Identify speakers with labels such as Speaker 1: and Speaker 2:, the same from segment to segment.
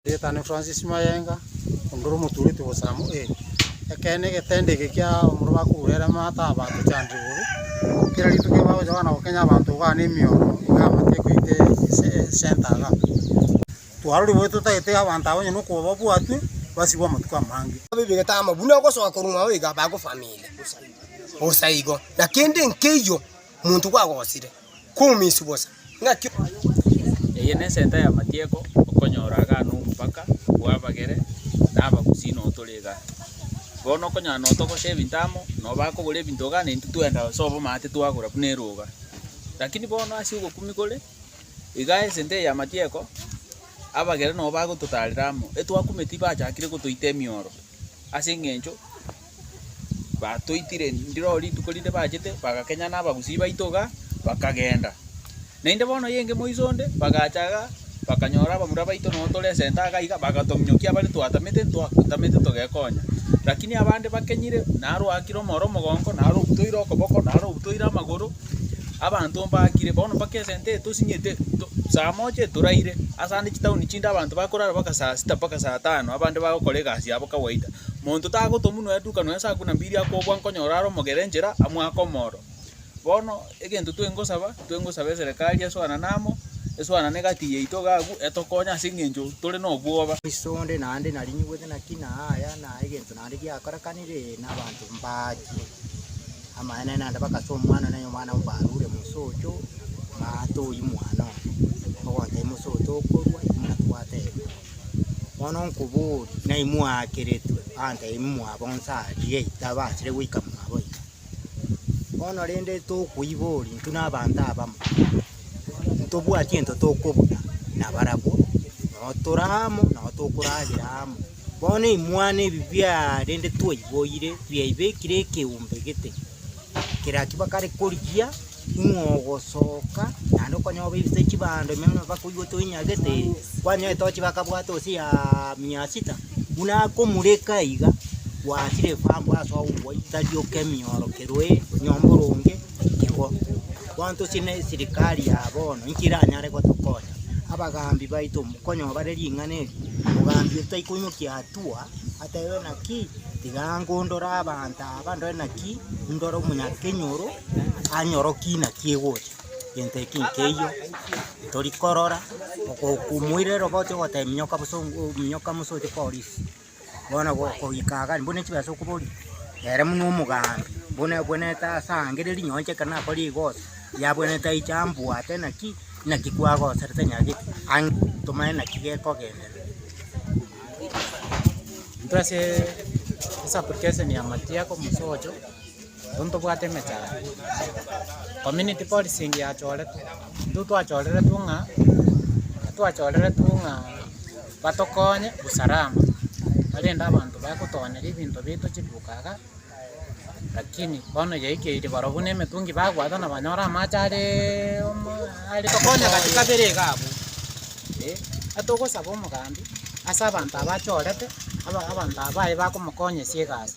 Speaker 1: Rieta ne Francis Mayenga, onde ore omotuureti bosamo A. Ekeene egetende eke kia omorero bakorure ere amato aba tochandire bobe. Kera rituko bagocha kogana gokenya abanto iga ne emioro iga amato ekoite ase esenta iga. Twarorire bobe totagete abanto aba onye nokoba babwatwe basibwe amatuko amange. Babebegete ama buna
Speaker 2: ogosoa korwa mwao iga bagofamire bosa igo, na kende nkeiyo monto gwagosire. koumiswa bosa. Ng'aki? Eye
Speaker 3: nesenta y'amatieko, okonyora agane omobaka bw'abagere na abagusii notore iga. Bono okonyora notogosha ebinto amo, noba akogora ebinto ogane intwe twenda gose obomate twagora buna eroga. Lakini bono ase ogokumia kore iga esenta eye y'amatieko, abagere nobagototarera amo, etwakumeti bachakire gotoita emioro ase eng'encho. batoitire ndiroo rituko rinde bachete, bagakenyana abagusii baito igaa, bakagenda. Naende bono eyenge moiso onde, bagacha igaa, bakanyora abamura baito noo tore esenta igaa iga, bagatong'inyokia abare twatamete ntwatamete togekonya. Rakini abande bakenyire, naro oakire omoro omogongo, naro obutoire okoboko, naro obutoire amagoro, abanto mbakire, bono mpaka esenta eye tosinyete to saa moja etoraire, asande chitaoni chinde abanto bakorara mpaka saa sita mpaka saa tano, abande bagokora egasi yabo kawaida. Monto tagotomunwa eduka nonya saa kumi na mbili akobua nkonyora are omogera enchera amo ake omoro. Bono egento twengosaba, twengosaba eserekari esoanane amo, esoanane egati yaito iga agwo etokonye ase eng'encho tore na obwoba. Ase onde naende
Speaker 4: narinyigwete naki na aya, na egento naende giakorekanire, ee, na abanto mbachire. Amaene naende bagasa omwana one, nonya omwana mbarure mosocho, matoyi mwana one, ogontebia mosoto okorua, inwe natwateba. Bono nkoborie, naimwakeretwe abanto aba imwabo nse aa rigaiya tabachire goika mwabo iga. Bono rende tokoiboria intwe nabanto abamo, ntobwati gento tokobuna nabarabwo, noo toramo noo tokoragera amo. Bono imwana ebi biaa rende twaiboire, biaibekire ekeumbe gete, kera ki bakare korigia. Ing'o ogosoka naende okonyoba ebisae chibando ime buna mpaka oywo toinyagete ere, kwanyoa etochi bakabwata gose ya mia sita, buna akomureka iga, gwachire kwambwa ase ogokwoyia tari oke miorokeru ee nyomba ore onge igo. Bono tosie ne sirikari ya bono inki eranyare gotokonya, abagambi baito mokonyoa bare ring'ana eri, mogambi oito tai koinyokia hatua, atebe naki, tiga nko ndore abanto aba, ndore naki, ndore omonyakenyoro. Anyorokie naki egocha, gento eke nkeiyo, tori korora, okokumoire roboto ogoteba minyoka bosa oo minyoka bosa oche korisia, bono go goika iga mbuna echi besa okobori, ere buna omogambi, buna obwenerete ase ange riri nonye inche ekero nakora rigoso, yabwenerete aiche ambwate naki naki kwagoserete nyagete, ang tomanye naki gekogenderera.
Speaker 1: Intwe aseee ase application ya matiako mosocho. Intwe ntobwate emechara community policing yachoretwe, intwe twachoreretwe ng'a twachoreretwe ng'a batokonye usalama barende abanto baye gotoonyeria ebinto biaito chiduka iga, lakini bono yaikeire barobwo buna emetungi bagwata na banyora amache areeeee omooo are tokonye gati kabere iga abwo eh. Atogosaba omogambi ase abanto aba achorete abanto aba baye bakomokonyesia egasi.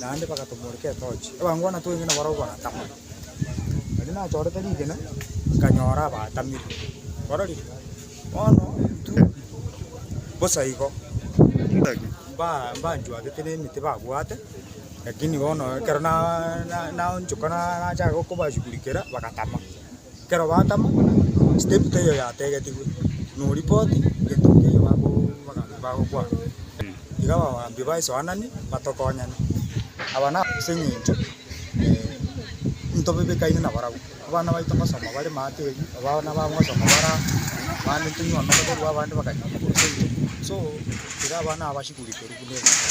Speaker 5: naende bagatomoreka etochi, abangwana tweng'e nabarabwo baratama. Nari nachorete rigena, nkanyora abatamire, orori, bono intwe bosa igo mba- mbanchwagete nemete babwate, lakini bono ekero na- na- naonchoka na- nachaka kobashugurikera, bagatama. Ekero batama, step teiyo yategetigwe, noripoti gento keiyo bakobagancha bagokwana. Iga abagambi ba esoanani batokonyane, aba na ase eng'encho ntobebekaine nabarabwo. Abana baito ngosoma bare maate erio, abana babo ngosoma bare aa, abande tonywe omere korwa abande bakanywa omokoro toinywe, so iga abana aba bashughulikerwe buna ebinto.